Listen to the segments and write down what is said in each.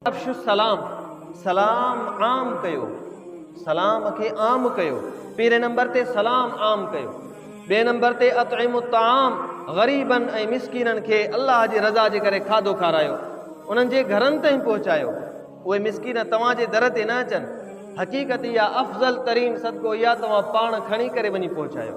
افشو السلام، سلام عام ڪيو، سلام کي عام ڪيو، پهرين نمبر تي سلام عام ڪيو، ٻئي نمبر تي اطعموا الطعام، غريبن ۽ مسڪينن کي الله جي رضا جي ڪري کاڌو کارايو، انهن جي گهرن تائين پهچايو، اهي مسڪين توهان جي در تي نه اچن، حقيقت اها افضل ترين صدقو اها توهان پاڻ کڻي ڪري وڃي پهچايو.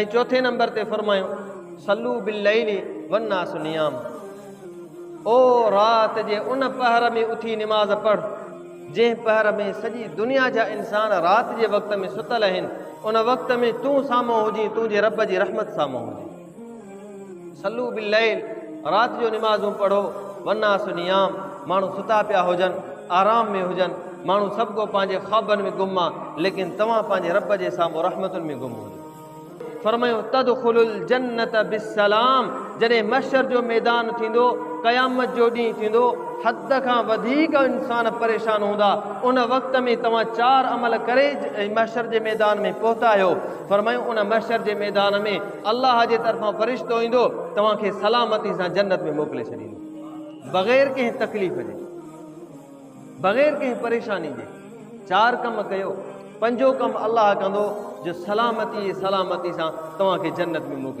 ۽ چوٿين نمبر تي فرمايو صلو بالليل والناس نيام او رات جي ان پهر ۾ اٿي نماز پڙھ جنهن پهر ۾ سڄي دنيا جا انسان رات جي وقت ۾ ستل آهن ان وقت ۾ تون سامهون هجين تنهنجي رب جي رحمت سامهون هجين صلو بالليل، رات جو نمازون پڙهو، والناس نيام، ماڻهو ستا پيا هجن، آرام ۾ هجن، ماڻهو سڀ ڪو پنهنجي خوابن ۾ گم آ، ليڪن توهان پنهنجي رب جي سامهون رحمتن ۾ گم هجو. فرمايو، تدخلو الجنة بالسلام، جڏهن محشر جو ميدان ٿيندو، قيامت جو ڏينهن ٿيندو، حد کان وڌيڪ انسان پريشان هوندا، ان وقت ۾ توهان چار عمل ڪري محشر جي ميدان ۾ پهتا آهيو، فرمايو، ان محشر جي ميدان ۾. الله جي طرفان فرشتو ايندو توهان کي سلامتي سان جنت ۾ موڪلي ڇڏيندو بغير ڪنهن تڪليف جي بغير ڪنهن پريشاني جي چار ڪم ڪيو پنجو ڪم الله ڪندو جو سلامتي سلامتي سان توهان کي جنت ۾ موڪلي